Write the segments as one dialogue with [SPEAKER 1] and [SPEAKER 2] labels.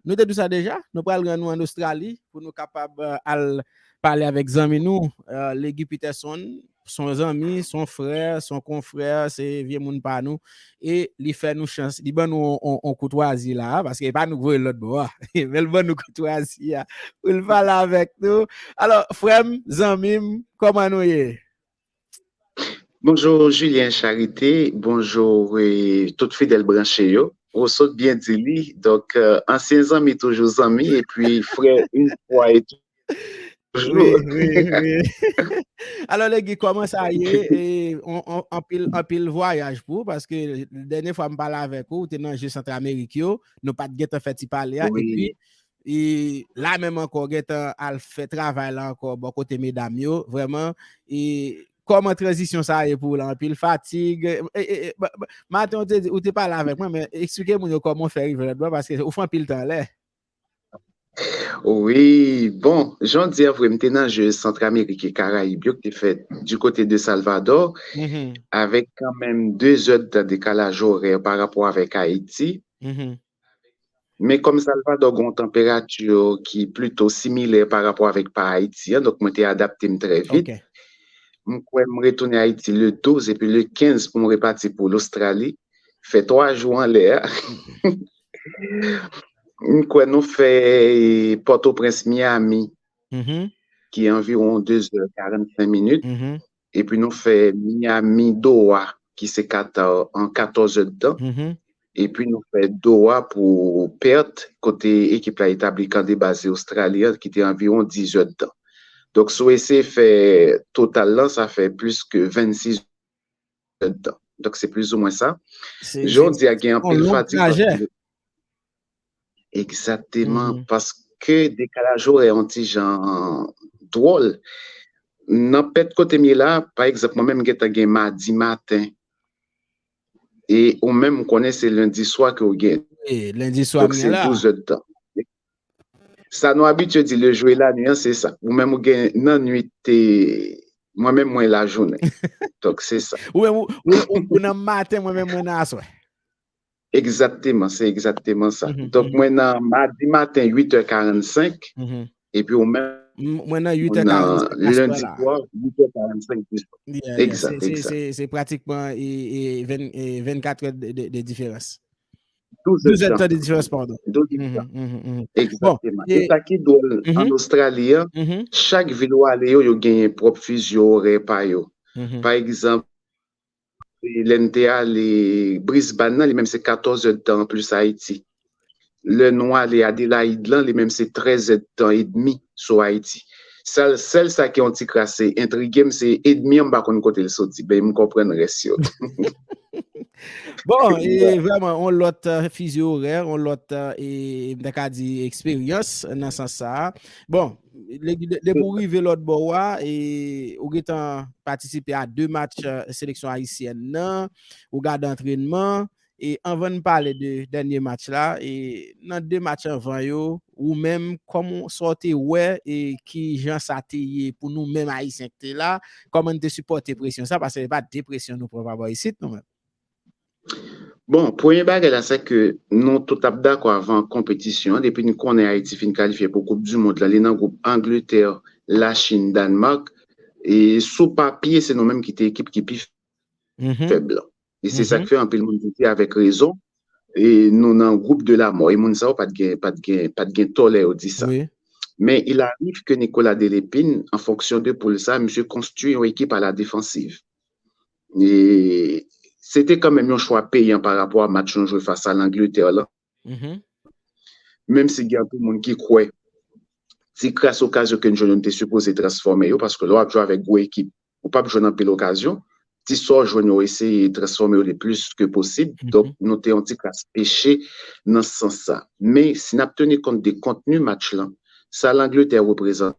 [SPEAKER 1] Nou te di sa deja, nou pral rann nou an Ostrali pou nou kapab al pale avèk zanmi nou Legi Peterson, s on zanmi, s on frè, s on konfrè, se vye moun pa nou e li fè nou chans, li ban nou on koutwazi la a, paske e pa nou k voye l lòt bò a, men l ban nou koutwazi a pou l pale avèk nou. Alò, frè m, zanmi m, kòman nou ye? Bonjour
[SPEAKER 2] Julien Charité, bonjour tout fidèl branche yo, ou sot byen di li, donk ansyen zanmi toujou zanmi e pi frè in fwa e tou wi wi wi
[SPEAKER 1] alò Legi kòman sa ye e anpil anpil vwayaj pou paske dènye fwa m pale avèk ou te nan je Centramerik yo nou pat gentan fè ti pale a e pi E la menm ankò gentan al fè travay la ankò bò kote medam yo vrèman e kòman tranzisyon sa ye pou ou la anpil fatig maten ou te di ou te pale avèk mwen men eksplike moun yo kòman ou fè rive lòtbò paske ou fè anpil tan anlè. Wi
[SPEAKER 2] bon jan w di a vre m te nan Jeux Centramérique et Caraïbes yo ki te fèt di kote de Salvador avèk kanmenm 2 zè de tan dekalaj orè pa rapò avèk Ayiti Men kòm Salvadò gen yon tanperati ki plito similè pa rapò avèk pa Ayiti an, donk mwen te adapte m trè vit. M kwè m retounen Ayiti le 12 epi le 15 pou m repati pou Lostrali, fè 3 jou anlè a. M kwè nou fè Pòtoprens, Miyami ki anviwon 2 zè 45 minit. Epi nou fè Miami Doha ki se Qatar an 14 è d'tan. Epi nou fè Doha pou Perth kote ekip la etabli kan de baz li Ostrali an ki te anviwon 10 è d'tan. Donk si w eseye fè total lan sa fè plis ke 26 è d'tan. Donk se plizoumwen sa. Jodi a gen anpil fatig. Egzakteman, paske dekalaj orè an ti jan dwòl. Nan pèt kote m ye la, pa egzanp, mwen menm m gen tan gen madi maten. E ou menm m konnen se lendi swa ke ou gen. Lendi swa m
[SPEAKER 1] gen la. Donk se 12 èd tan.
[SPEAKER 2] Sa nou abitye di le jou e la nwi an se sa. Ou menm ou gen nan nwit te, mwen menm mwen la jounen. Donk se sa. Ou menm
[SPEAKER 1] ou nan maten, mwen menm mwen nan aswè. Egzakteman,
[SPEAKER 2] se egzakteman sa. Donk mwen nan madi maten 8 è 45, epi ou men mwen nan
[SPEAKER 1] lendi swa 8 è 45 di swa.
[SPEAKER 2] Egzak, egzak.
[SPEAKER 1] Se pratikman 24 è de diferans. 12 è de diferans, pardon. Egzakteman.
[SPEAKER 2] E sa ki dwòl an Ostrali an, chak vil ou ale yo, yo genyen pwòp fizyo orè pa yo. Pa egzanp, Lè n te ale Brisbane lan, li menm se 14 zèd tan an plis Ayiti. Lè nou ale Adélaïde lan, li menm se 13 zèd tan edmi sou Ayiti. Sal sèl sa ki yon ti kras entrige m se edmi an m pa konn kote l soti men m konprann rès yo.
[SPEAKER 1] Bon, e vreman yon lòt fizi orè, yon lòt e m ta ka di eksperyans nan sans sa a. Bon, Depi ou rive lòt bò a, ou gen tan patisipe a 2 match seleksyon Ayisyèn nan, ou gade antrenman, e anvan n pale de dènye match la, nan 2 match anvan yo, ou menm, kòman, sa w te wè, e ki jan sa te ye pou nou menm Ayisyen ki te la, kòman n te sipòte presyon sa, paske se pa depresyon nou pran pa bò isit nou menm?
[SPEAKER 2] Bon, premye bagay la se ke nou tout ap dakò avan konpetisyon an, depi n konnen Ayiti fin kalifye pou koup di mond la, li nan gwoup Angletè, Lachin, Dànmak, e sou papye se nou menm ki te ekip ki pi fèb lan. E se sa k fè anpil moun di avèk rezon, e nou nan gwoup de la mò. E moun sa yo pat gen, pat gen, pat gen tò lè yo di sa. Men il
[SPEAKER 1] arrive
[SPEAKER 2] ke Nicolas Delépine, an fonksyon de poul sa, misye konstwi yon ekip a la defansiv. se te kanmenm yon chwa peyan pa rapò a match nou jwe fas a Langletè lan. Menm si gen anpil moun ki kwè ti kras okazyon ke n jwenn yo nou te sipoze transfòme yo paske lè w ap jwe avèk gwo ekip ou p ap jwenn anpil okazyon. Ti sa w jwenn yo ou eseye transfòme yo le plis ke posib. Donk nou te yon ti kras peche nan sans sa. Men si n ap teni kont de kontni match lan, sa Langletè reprezante,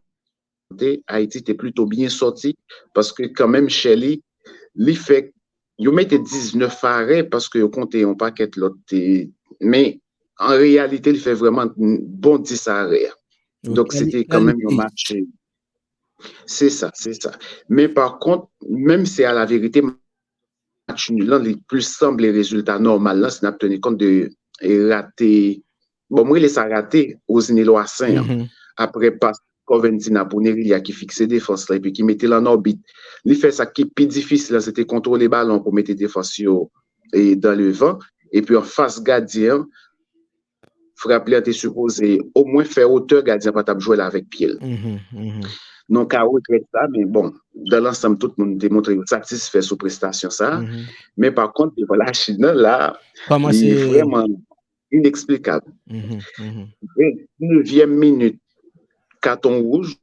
[SPEAKER 2] te Haïti te plito byen sòti paske kanmenm chè li li fè yo mete 19 fare paske yo konte yon pakèt lòt te men an reyalite li fè vreman bon 10 fare donk se te kanmenm yon matche se sa se sa men pa kont menm se a la verite match nul lan li plis sanble rezilta nòmal lan si n ap teni kont de rate, bon m rele sa rate Rosny Loissaint an aprè pas Corventina pou Nerilha ki fikse defans lan epi ki mete l an òbit. Li fè sa ki pi difisil lan se te kontwole balon pou mete defans yo dan devan epi an fas gadyen an. frap li an te sipoze o mwen fè wotè gadyen pa tap jwe la avèk pye l. Nou ka regrèt sa men bon, dan lansanm tout moun te montre yo satisfè sou prestasyon sa. Men pa kont devan la Chin nan la li vrèman ineksplikab. Venntynevyèm minit katon wouj.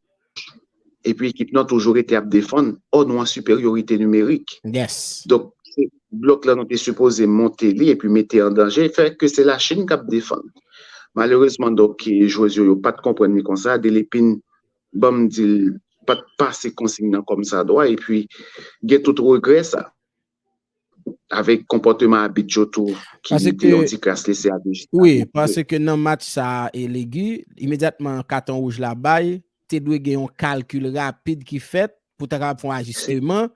[SPEAKER 2] epi ekip nan toujou rete ap defann ò nou an siperyorite nimerik. Donk,
[SPEAKER 1] se
[SPEAKER 2] blòk la nou te sipoze monte li epi mete an danje, fè ke se Lachin k ap defann. Malerezman donk, jwez yo yo pa t konprann li konsa, Delepin ban m di l pa t pase konsign nan kòmsadwa epi gen tout regrè sa. avèk konpòteman abit yo tou ki mete yon ti kras lese a Dejina tou. Wi, paske
[SPEAKER 1] nan match sa a e Legi, imedyatman katon wouj la bay, te dwe gen yon kalkil rapid ki fèt pou ta kapab fè yon ajisteman.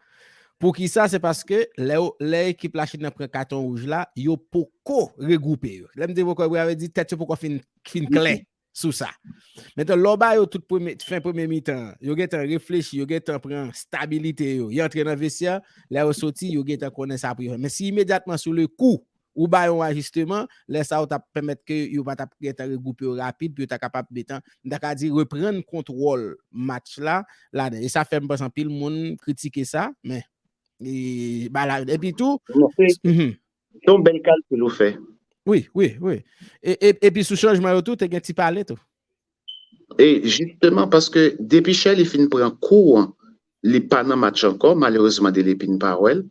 [SPEAKER 1] Poukisa? Se paske lè ekip Lachin nan pran katon wouj la, yo poko regwoupe yo. Lè m di yo poko regwoupe, sa vle di tèt yo poko fin klè. sou sa. Metan lè w ba yo tout premye, fen premye mitan, yo gen tan reflechi, yo gen tan pran stabilite yo, y antre nan vesyè, lè yo soti, yo gen tan konnen sa pou yo fè. Men si imedyatman sou le kou, ou ba yo yon ajisteman, lè sa ou t ap pèmèt ke yo pa t ap gen tan regwoupe yo rapid pou yo ta kapab metan, m ta ka di reprann kontwòl match la ladan. E sa fè m panse anpil moun kritike sa, men, e ba la, epi tou,
[SPEAKER 2] Se yon bèl kalkil ou fè. Wi, wi, wi.
[SPEAKER 1] E pi sou chanjman yo tou, te gen ti pale tou. E
[SPEAKER 2] jisteman, paske depi Sherley fin pran kou an, li pa nan match ankò, malerezman Delepine pa wè l.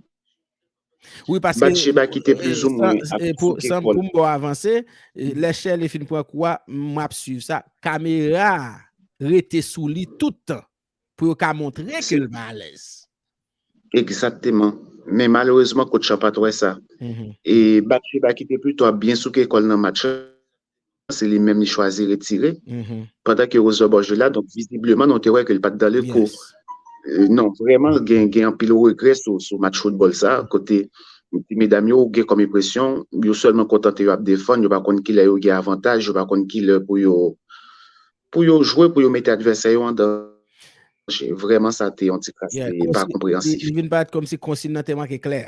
[SPEAKER 1] Wi, paske. Batcheba ki te plizoumwen
[SPEAKER 2] ap fouke kò l. San pou m
[SPEAKER 1] ba w avanse, lè Sherley fin pran kou a, m ap swiv sa, kamera a rete sou li tout tan. pou yo ka montre ke l pa alèz. Egzakteman.
[SPEAKER 2] Men malerezman kotch la pa t wè sa. E Batcheba ki te pito ap byen souke kò l nan match la, se li menm li chwazi retire. Pandan ke Rose Leboeuf jwe la, donk vizibleman nou te wè ke l pa t dan le kou. Non, vrèman l gen gen anpil regrè sou match foutbòl sa a, kote ti medam yo ou gen kòm enpresyon yo sèlman kontante yo ap defann, yo pa konn ki lè yo gen avantaj, yo pa konn ki lè pou yo Pou yo jwe pou yo mete advèsè yo an danje. Vrèman sa te yon ti kras ki pa konpreyansif. Li vin parèt kòmsi
[SPEAKER 1] konsign nan te manke klè.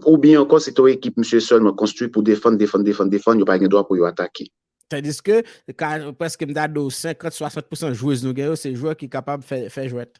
[SPEAKER 2] Oubyen ankò se te yon ekip misye sèlman konstwi pou defann, defann, defann, defann, yo pa gen dwa pou yo atake. Tandiske,
[SPEAKER 1] prèske m ta di w 50, 60 pousan jwez nou gen yo se jwè ki kapab fè jwèt.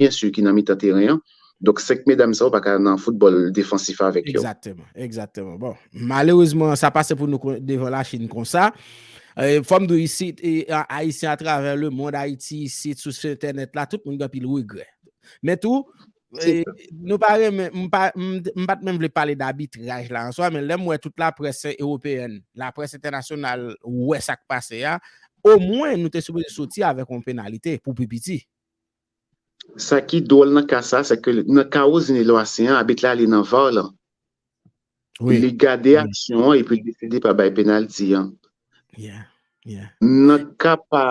[SPEAKER 2] byen sur ki nan mitan teren an, donk 5 medam sa yo pa ka nan foutbòl defansif avèk yo. Egzakteman, egzakteman. Bon,
[SPEAKER 1] malerezman sa pase pou nou devan la Chine konsa. Fò m di w isit, Ayisyen atravè le mond, Ayiti isit, sou entènèt la, tout moun gen anpil regrè. Men tou, nou pa renmen, m pa, m pa t menm vle pale d'abitraj la an swa, men lè m wè tout laprès ewopeyèn, laprès entènasyonal wè sa k pase a, omwen nou te sipoze soti avèk yon penalite pou pi piti.
[SPEAKER 2] Sa ki dwòl nan ka sa, se ke nan ka Rosny Loissaint an, abit la li nan var lan. Li gade aksyon an epi li deside pa bay penalti an. Nan ka pa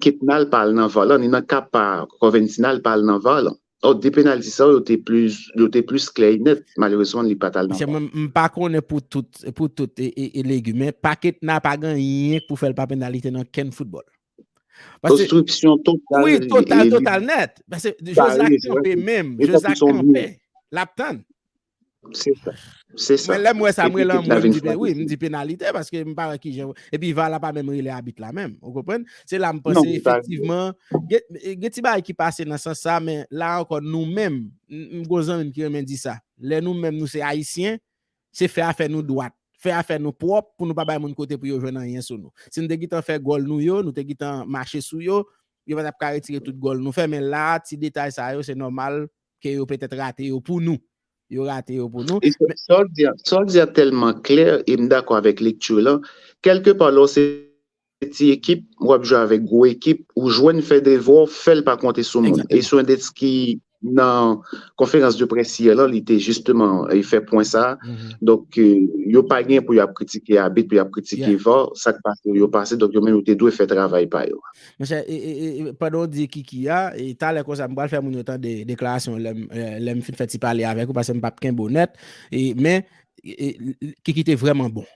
[SPEAKER 2] Ketnal pa al nan var lan, ni nan ka pa Corventina li pa al nan var lan. Donk 2 penalti sa yo te plis, yo te plis klè e nèt. Malerezman li pa t al nan var. Mwen m pa konnen pou
[SPEAKER 1] tout, pou tout e legi men pa Ketna pa gen anyen k pou fè l pa penalite nan kenn foutbòl. Ostripsyon
[SPEAKER 2] total. Wi, total, total
[SPEAKER 1] net. Pase, Jozak kanpe menm. Jozak kanpe. Lap tann.
[SPEAKER 2] Se sa. Se sa. Mwen lèm wè
[SPEAKER 1] sa mwen lan mwen di pen. Wi, mwen di penalite. Pase, mwen pa wè ki jen. E pi va la pa menm rele abit la menm. Ou konpwen? Se la mwen pase. Non, mwen pa. Efektivman. Gen ti bay ki pase nan sans sa. Men la ankon nou menm. Mwen gozan mwen ki remen di sa. Lè nou menm nou se ayisyen. Se fè afè nou dwat, fè afè nou pwòp pou nou pa bay moun kote pou yo jwenn anyen sou nou. Si nou te gitan fè gòl nou yo, nou te gitan mache sou yo, yo pa tap ka retire tout gòl nou fè men la a ti detay sa yo se nòmal ke yo petèt rate yo pou nou. Yo rate yo pou nou. Sa
[SPEAKER 2] w di a tèlman klè e m dakò avèk lekti w lan. Kèlke pa lè w se. se ti ekip wap jwe avèk gwo ekip ou jwenn fè devwa w fèl pa konte sou moun e Soendetz ki nan konferans de près yè lan li te jisteman fè pwen sa donk yo pa gen pou yap kritike abit pou yap kritike var sak pase yo pase donk yo menm yo te dwe fè travay pa yo. Monchè
[SPEAKER 1] pandan w di Kiki a talè konsa m pral fè moun yo tande deklarasyon lè m fin fè ti pale avèk ou paske m pap kenbe w nèt men Kiki te vrèman bon.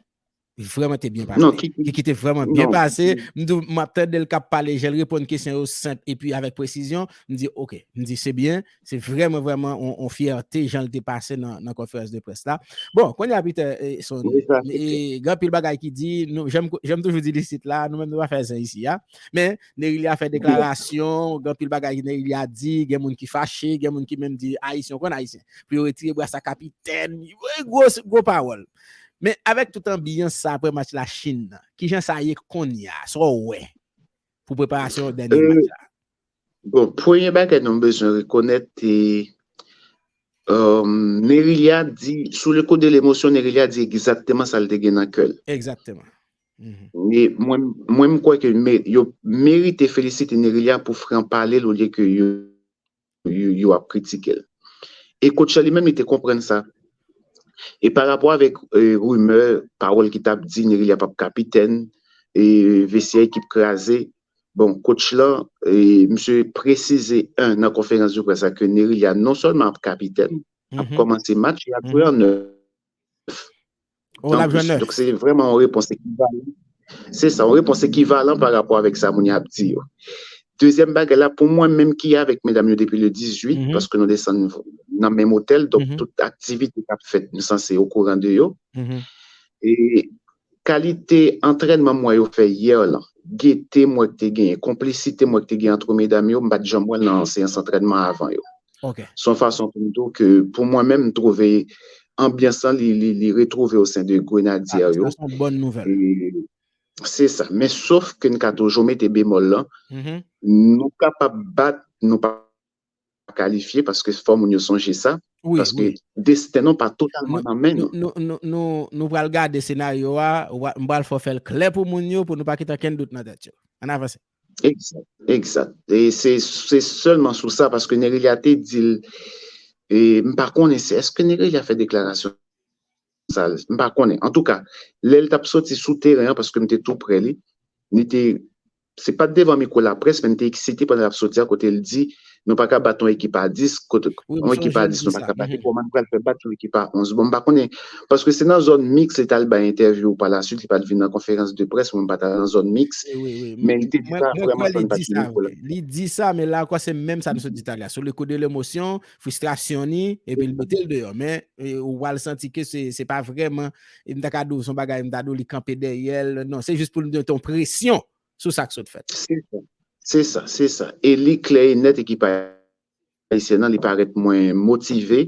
[SPEAKER 1] Vreman te byen pase. Kiki te vreman
[SPEAKER 2] byen
[SPEAKER 1] pase. Mdou m ap tande l kap pale, jel reponn kesyon yo senp epi avèk presizyon. Mdi ok, mdi se byen, se vreman vreman on fyète jan l te pase nan konferans de près la. Bon, konya Peter son, gen pil bagay ki di, janm toujou di disit la, nou menm nou pa fè zen isi a. Men, Nerilia fè deklarasyon, gen pil bagay Nerilia di, gen moun ki fache, gen moun ki menm di Ayisyen konn Ayisyen. Pou yo retire bras a kapitèn, gwo pawòl. Men avèk tout anbiyans sa aprè match la Chine nan, kijan sa ye konnya? Sa w wè pou preparasyon dènye match la? Bon,
[SPEAKER 2] premye bagay nou bezwen rekonèt te Nerilia di, sou le kou de lemosyon Nerilia di egzakteman sa l te gen nan kè l. Egzakteman. Mwen m kwè ke yo merite felisite Nerilia pou fran pale l olye ke yo. yo ap kritike l. E Coach la li menm li te konprann sa. E pa rapò avèk rimè, pawòl ki t ap di Nerilia p ap kapitèn, e vestyè ekip kraze, bon Coach lan misye presize 1 nan konferans de près la ke Nerilia non sèlman ap kapitèn, ap kòmanse match, li ap jwe an 9. Ou la jwenn 9. Se vreman yon repons ekivalan. Se sa, yon repons ekivalan pa rapò avèk sa moun ap di yo. Dezyèm bagay la, pou mwen menm ki avèk medam yo depi le 18, paske nou desann nan menm otèl, donk tout aktivite kap fèt, m sanse yo kouran de yo. E kalite antrènman m wè yo fè yè lan, gete m wè ki te genyen, konplisite m wè ki te genyen antre medam yo, m pat janm wè l nan seyans antrènman avan yo. Ok. Son fason pou m di w ke pou mwen menm m twouve anbyans lan li retwouve osen de Grenadyer yo. Sa son bòn nouvèl.
[SPEAKER 1] Se
[SPEAKER 2] sa. Men sof ke n ka toujou mete bemòl lan, nou kapab bat, nou pa kalifye paske fò moun yo sonje sa, paske
[SPEAKER 1] desten
[SPEAKER 2] nou pa totalman nan men nou. Nou
[SPEAKER 1] pral gade senaryo a, m pral fè w fè l klè pou moun yo pou nou pa kite okenn dout nan tèt yo. Ann avanse. Exact, exact.
[SPEAKER 2] E se se sèlman sou sa paske Nerelia te di l e m pa konnen se eske Nerelia fè deklarasyon sa l m pa konnen. Antouka, lè l t ap soti sou teren an paske m te tou prè li, li te se pa t devan mikwo laprès men li te eksite pandan l ap soti a kote l di Nou paka bat yon ekip a 10, yon ekip a 10 nou paka bat, kòman nou pral fè bat yon ekip a 11? Bon m pa konnen, paske se nan zòn miks li t al bay entèvyou pa la suit, li pa t vin nan konferans de près, mwen m pa t al nan zòn miks, men li te di sa vrèman san l pa t gen mikwo la. Li
[SPEAKER 1] di sa, men la ankò se menm sa nou sot di talè a, sou le kou de lemosyon, fristrasyon ni, epi l mete l deyò, men ou pral santi ke se pa vrèman, m ta ka di w se yon bagay m ta di w li kanpe dèyè l, non, se jis pou l mete yon presyon sou sa k sot fèt. Se sa, se sa,
[SPEAKER 2] se sa. E li klè e nèt ekip ayisyen an li parèt mwen motive.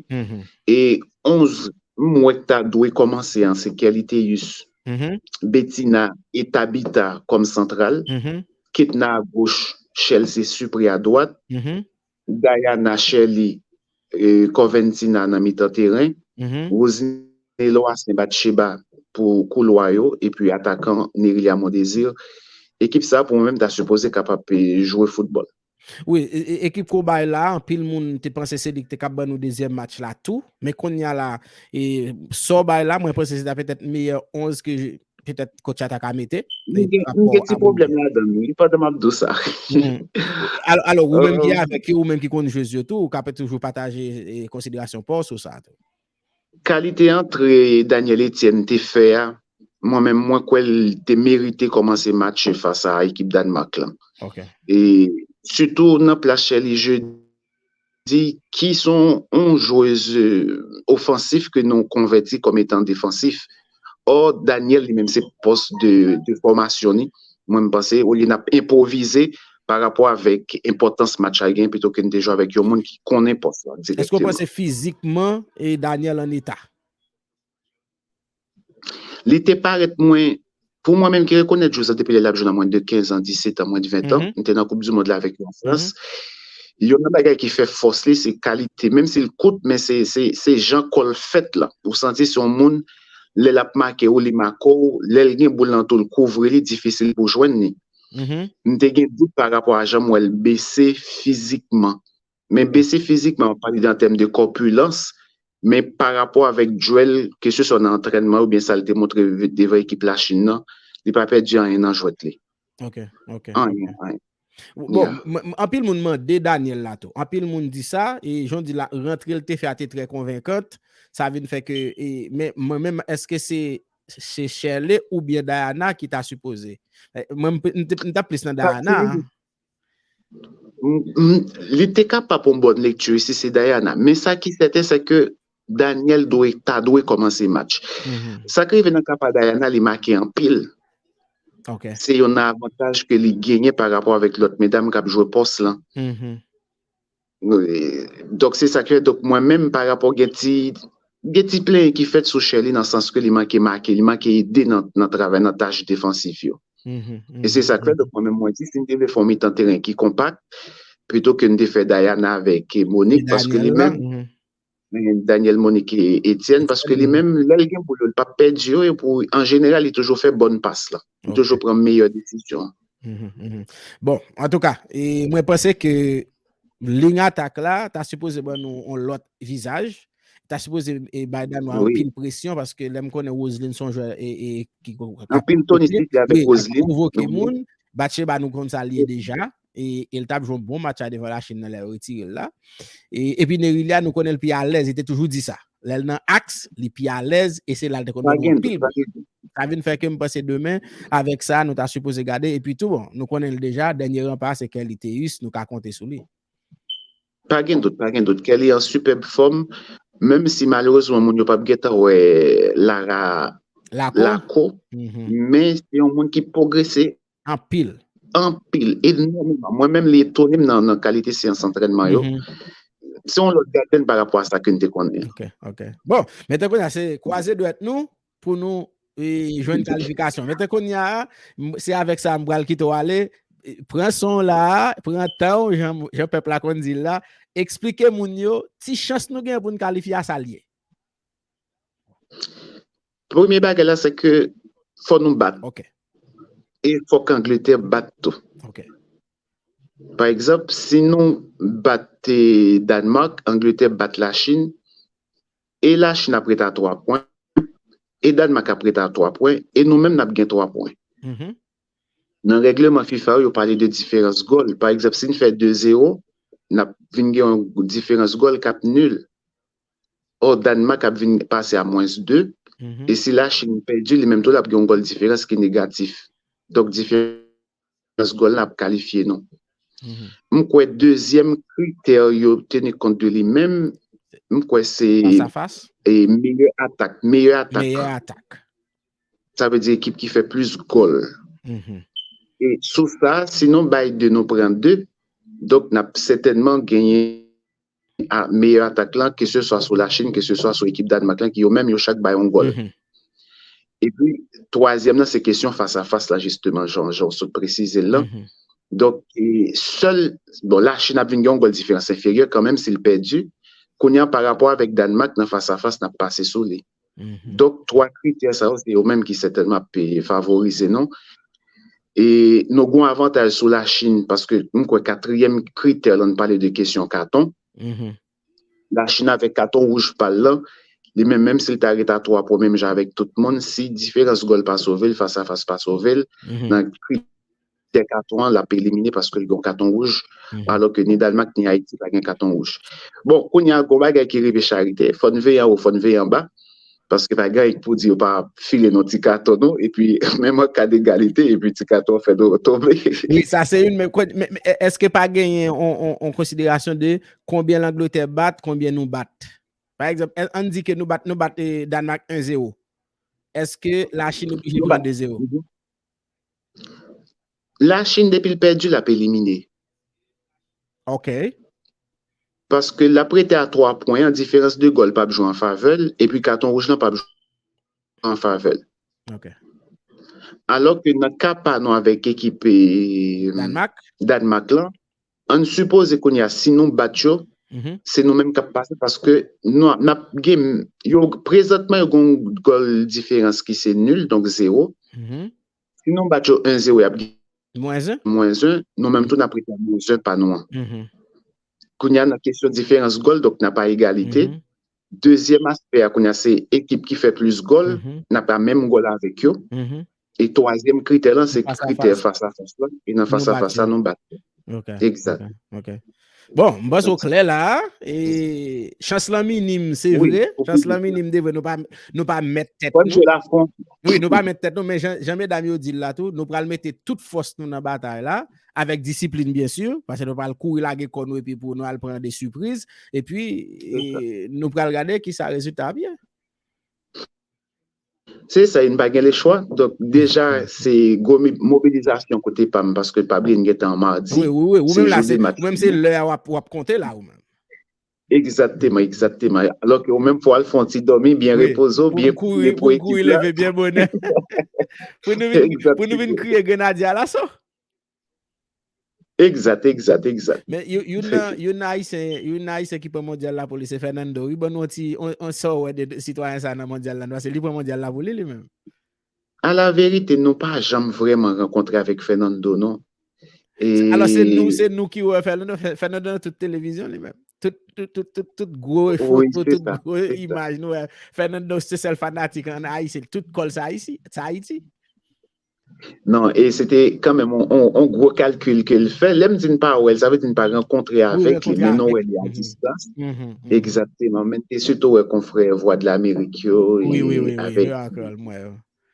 [SPEAKER 2] E 11 m wè k ta dwe kòmanse an se Kerliteus, Betina e Tabita kòm santral, Ketna a goch, Chelsea Supre a dwat. Dayana Shirley Corventina nan mitan teren, Rosny Loassaint Batcheba pou koulwa yo epi atakan Nérilia Mondésir. Ekip sa pou mwen menm ta sipoze kapab jwe foutbòl. Wi,
[SPEAKER 1] ekip ke w bay la, anpil moun te panse se li ki te kab ban nou dezyèm match la tou. Men konnya la, sa w bay la, mwen panse se ta petèt meyè 11 ke petèt coach la ta ka mete. Mwen gen ti
[SPEAKER 2] pwoblèm ladan wi pandan m ap di w sa.
[SPEAKER 1] Alò ou menm ki avèk yo, ou menm ki konn jwez yo tou, ou ka toujou pataje konsiderasyon pa w sou sa tou. Kalite
[SPEAKER 2] antre Daniel Etienne te fè a, mwen menm mwen kwè l te merite kòmanse match yo fas a ekip Danemark lan. Sitou nan plas Sherly Jeudi. di ki son yon jwez ofansif ke nou konvèti kòm etan defansif. Ò, Daniel li menm se pòs de fòmasyon ni. Mwen m panse olye n ap enpwovize pa rapò avèk enpòtans match la gen pito ke n te jwe avèk yon moun ki konnen pòs la direkteman. Èske w panse
[SPEAKER 1] fizikman Daniel an eta?
[SPEAKER 2] Li te parèt mwen, pou mwen menm ki rekonèt jwez la depi lè l ap jwe nan mwens de 15 an, 17 an, mwens de 20 an, m te nan koup di mond la avèk li an Frans, youn nan bagay ki fè fòs li se kalite, menm si l kout men se jan kò l fèt lan, ou santi se yon moun lè l ap make ou li make w, lè l gen boul nan tou l kouvri li, difisil pou w jwenn li. M te gen dout parapò a jan m wè l bese fizikman. Men pesi fizikman, mwen pale de an tèm de kòpilans, men pa rapò avèk dwèl, ke se swa nan antrènman oubyen sa l te montre devan ekip Lachin nan, li pa pèdi anyen nan jwèt li. Ok, ok.
[SPEAKER 1] Anyen, anyen. Bon, anpil moun mande Daniel la tou. Anpil moun di sa, e jan w di la, rantre l te fè a te trè konvenkant, sa vin fè ke, e, men mwen menm, èske se Shirley oubyen Diana ki ta sipoze? Mwen, m ta plis nan Diana.
[SPEAKER 2] Li te kapab yon bòn lekti si se Diana. Men sa ki sèten se ke Daniel ta dwe kòmanse match. Sa ki rive nan ka pa Diana, li make anpil.
[SPEAKER 1] Se yon
[SPEAKER 2] avantaj ke li genyen pa rapò avèk lòt medam k ap jwe pòs lan. Donk se sa ki fè, donk mwen menm pa rapò gen ti, gen ti plenyen ki fèt sou Sherley nan sans ke li manke make, li manke ede nan travay, nan tach defansif yo. E se sa ki fè, donk mwen menm mwen di, si n te vle fè yon mitan teren ki konpak, pito ke n te fè Dayana avèk Monique, paske li menm, Daniel Monique Etienne paske li menm lèl gen boul yo li pap pèdi yo epou an jeneral li toujou fè bòn pas la li toujou pran meyè desisyon
[SPEAKER 1] bon antouka mwen panse ke ling atak la ta sipoze ban nou on lòt vizaj ta sipoze bay dan nou anpil presyon paske lèm konnen Roseline son jwè anpil tonistik
[SPEAKER 2] avèk Roseline
[SPEAKER 1] batche ba nou konn sa liye deja e l t ap jwe yon bon match la devan Lachin nan lè yo retire l la. Epi Nerilia nou konnen l pi alèz, li te toujou di sa. Lè l nan aks, li pi alèz e se la l te konn jwe anpil. Sa vin fè ke m panse demen, avèk sa nou ta sipoze gade. Epi tou, nou konnen l deja, dènye ranpa a se Kerly Théus, nou ka konte sou li. Pa
[SPEAKER 2] gen dout, pa gen dout. Kerly an sipèb fòm, menm si malerezman moun yo p ap gentan wè Lara Lakou, men se yon moun ki pwogrese Anpil.
[SPEAKER 1] Anpil,
[SPEAKER 2] enòmeman. Mwen menm li etone m nan kalite seyans antrènman yo. Se yon lòt gaden pa rapò a sa ke n te konnen. Ok, ok. Bon,
[SPEAKER 1] metten kounye a se kwaze dwèt nou pou nou jwenn kalifikasyon. Metten kounye a, se avèk sa m pral kite w ale, pran son w la a, pran tan w jan pèp la konn di l la, eksplike moun yo ti chans nou gen pou n kalifye a sa l ye.
[SPEAKER 2] Premye bagay la se ke fò nou bat. Ok.
[SPEAKER 1] E
[SPEAKER 2] fò k Angletè bat tou. Ok. Pa egzanp, si nou bat Danemark, Angletè bat Lachin, e Lachin ap ret a 3 pwen, e Danemark ap ret a 3 pwen, e nou menm n ap gen 3 pwen. Nan règleman fifa yo, yo pale de diferans gòl. Pa egzanp, si n fè 2-0, n ap vin gen yon diferans gòl k ap nil. Or Danemark ap vin pase a mwens 2 e si la Chine pèdi li menm tou lap gen yon gòl diferans ki negatif. Donk diferans gòl lan ap kalifye nou. M kwè dezyèm kritè yo teni kont de li menm m kwè se meyè atak. Meyè atak. Sa vle di ekip ki fè plis gòl. E sou sa si nou bay 2 nou pran 2 donk nap sètènman genyen. a meyè atak la ke se swa sou la Chine ke se swa sou ekip Danemark lan ki yo menm yo chak bay yon gòl. E pi twazyèm nan se kesyon fas a fas la jisteman jan ou sot presize l lan. Donk sèl bon la Chine ap vin gen yon gòl diferans enferyè kanmenm si l pèdi kounye a parapò avèk Danemark nan fas a fas n ap pase sou li. Donk 3 kritè sa yo se yo menm ki sètènman ap favorize nou. E nou gon avantaj sou la Chine paske m kwè katriyèm kritè lè n pale de kesyon katon. La Chine avèk katon wouj pa l lan, li menm menm si l ta ret a 3 pwen menm jan avèk tout moun, si diferans gòl pa sove l, fas a fas pa sove l, nan kri. Dè katon an lap elimine paske l gen yon katon wouj, alò ke ni Dalmak ni Ayiti pa gen katon wouj. Bon, kounye a gon bagay ki rive Charite, fò n veye anwo, fò n veye anba, paske pa gen anyen k pou di yo pa file nou ti katon nou, epi menm an ka degalite, epi ti katon an fè nou tonbe. Wi, sa se youn, men
[SPEAKER 1] èske pa genyen yon konsiderasyon de konbyen Langlotè bat, konbyen nou bat? Pa egzanp, an n di ke nou bat Danmak 1 zewo, èske Lachin oblije pran 2 zewo?
[SPEAKER 2] La chine depi l pèdi lap elimine.
[SPEAKER 1] Ok.
[SPEAKER 2] Paske lap rete a 3 pwen an diferans de gòl pap jwe an favè l epi katon wouj lan pap jwe an favè l. Ok. Alò ke nan ka pa nou avèk ekip Danmak lan Ann sipoze kounye a si nou bat yo, se nou menm k ap pase paske n ap gen yo prezantman yo gen yon gòl diferans ki se nul donk zewo. Si nou bat yo 1 zewo y ap gen mwens 1, nou menm tou n ap rete ak mwens 1 pa nou an. Kounye a nan kesyon diferans gòl donk n ap a egalite Dezyèm aspè a kounya se ekip ki fè plis gòl, n ap nan menm gòl avèk yo. E twazyèm kritè lan se kritè fas a fas lan, e nan fas a fas la nou bat yo. Ok, ok. Bon,
[SPEAKER 1] m panse ou klè la a. Chans lan minim se vre, chans lan minim de vre, nou pa mèt tèt nou. Fò n jwe la fon. Wi, nou pa mèt tèt nou, men jan medam yo di l la tou, nou pral mete tout fòs nou nan batay la. Avèk disiplin byen si, pase nou pral kouri lage kò nou epi pou nou al pran de sipriz, epi nou pral gade ki sa rezilta ap ye.
[SPEAKER 2] Se sa, e nou pa gen le chwa. Donk, deja, se gwo mobilizasyon kote pa m, paske pa bliye n gen tan an mardi. Ou
[SPEAKER 1] menm se lè a w ap konte la ou menm. Egzakteman, egzakteman.
[SPEAKER 2] Alò ke ou menm fò al fè yon ti dòmi, byen repoze w, byen priye pou ekip la. Pou m kouri leve
[SPEAKER 1] byen bonè. Pou nou vin kriye Grenadye Alaso.
[SPEAKER 2] Egzat, egzat, egzat. Men,
[SPEAKER 1] youn nan, youn nan Ayisyen, youn nan Ayisyen ki pran Mondyal la pou li se Fernando wi. Ban nou yon ti, sa w wè de sitwayen sa nan Mondyal la nou? Paske li pran Mondyal la pou li, li menm. A la
[SPEAKER 2] verite nou pa janm vreman rankontre avek Fernando non e. Alò
[SPEAKER 1] se nou se nou ki wè Fernando, Fernando nan tout televizyon li menm. Tout tout tout tout tout gwo foto, tout gwo imaj nou wè Fernando se sèl fanatik an Ayiti, tout kòl sa Ayiti, sa Ayiti.
[SPEAKER 2] Non, e se te kanmenm on gwo kalkil ke l fè, lè m di n pa wè l, sa vle di n pa rankontre avèk li, men nou wè li a distans. Egzakteman, men te sitou wè konfrè Vwadlamerik yo e avèk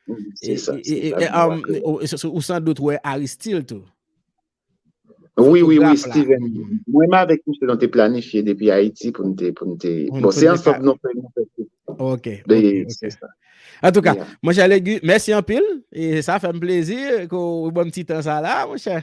[SPEAKER 1] Se
[SPEAKER 2] sa,
[SPEAKER 1] se sa ki wak yo. Ou san dout wè Aristil tou.
[SPEAKER 2] Wi, wi, wi, Steven. Mwen m avèk misye nou te planifye depi Ayiti pou nou te, pou nou te, bon se ansanm nou fè nou fè tout. Ok, ok, ok.
[SPEAKER 1] Antouka, monchè Legu, mèsi anpil. E sa fè m plezi ke w ban m ti tan sa la, monchè.